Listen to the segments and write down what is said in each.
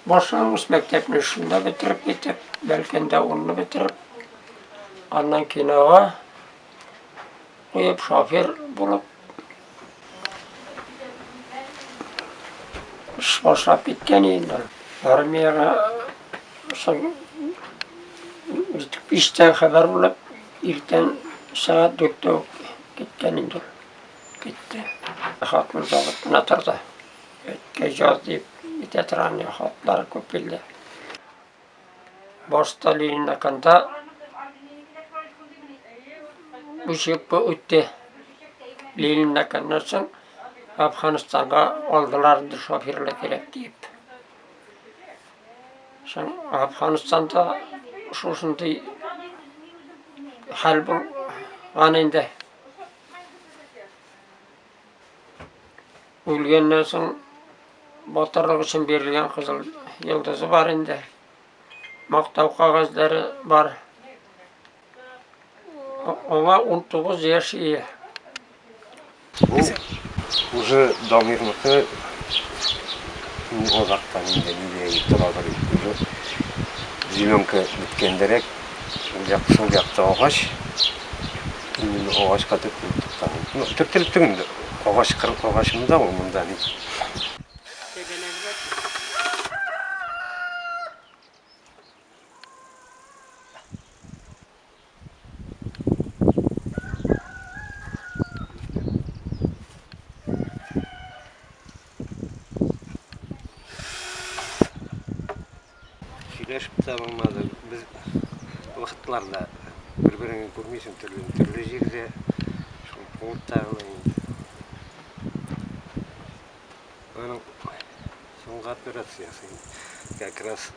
Башлангыч мәктәпне шунда бетереп китеп, Бәлкәндә унны бетереп, аннан кинога куеп, шофер булып эш башлап киткән инде. Армиягә соң биштә хәбәр булып, иртән сәгать дүрттә үк киткән инде. Китте. Хатын заводына торды. Әткәй җаз дип, ветеран хатлары күп килде. Башта Ленинакында үсеп үтте. Ленинаканнан соң Афганистанга алдылар инде шоферлар кирәк дип. Соң Афганистанда шушындый хәл булган инде. Үлгәннән соң батырлык өчен бирелгән кызыл йолдызы бар инде. Мактау кагазьләре бар. Аңа 19 яшь ие. Бу уже Дамирныкы озактан инде нидә торадыр. Уже зеленка беткәндерәк, ул як шул якта агач. Именно агачка төртелеп тоткан. Ну, төртелеп түгел инде. Агач кыр, агач монда ул, монда бит. Сөйләшеп тә булмады. Без вакытлар да бер-береңне күрмисең, төрле төрле җирдә, шул пунктта гына инде. Аның соңгы операциясе как раз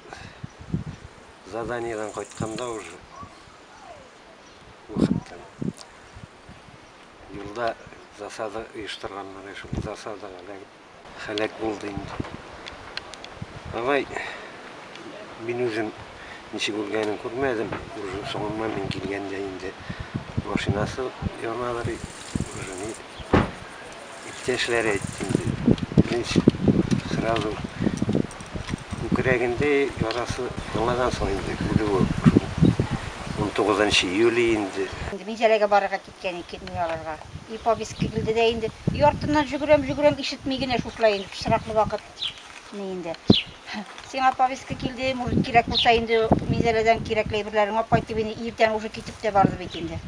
заданиедән кайтканда уже вакыттан. Юлда засада оештырганнар, шул засадага эләгеп Хәләк булды инде. Давай, мин үзем ничек үлгәнен күрмәдем. Уже соңыннан мин килгәндә инде машинасы янадыр. Уже ни иптәшләре әйтте инде. Беренче сразу күкрәгендә ярасы яңадан соң инде үлүе. 19 июль инде. Инде Минзәләгә барырга кит. Кәни килми аларга. И повесть килде дә инде. Өй артыннан җөгерәм, җөгерәм, ишетми генә шушылай инде, пычраклы вакыт ни инде. Сиңа повестка килде, может, кирәк булса инде Минзәләдән кирәкле әйберләрен алып кайт дип инде иртән уже китеп тә барды бит инде.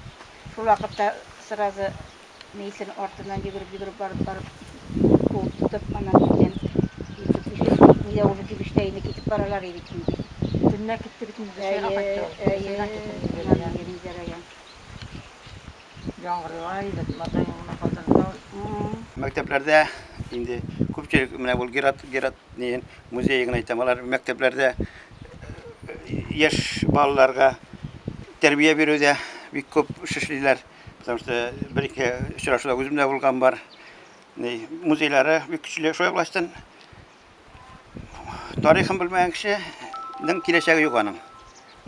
Шул вакытта сразу Мейсен артыннан йөгереп, йөгереп барып, барып куып тотып, аннан иртән иртүк бишүк нидә уже кибештә инде китеп баралар и бит инде. Төнлә китте бит инде, дүшәйгә кайтты ул. Әйе, әйе, Минзәләгә. Яңгырлар иде, матаеңны катырдылар. М-м. Мәктәпләрдә инде күпчелек менә ул Герат, Герат нин музее гына әйтәм, алар мәктәпләрдә яшь балаларга тәрбия бирүдә бик күп эш эшлиләр. Потому что бер-ике очрашуда үзем дә булган бар. Музейлары бик көчле. Шулай булгачтын, тарихын белмәгән кешенең киләчәге юк аның.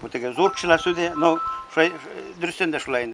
Бу теге зур кешеләр сүзе, но шулай дөрестән дә шулай.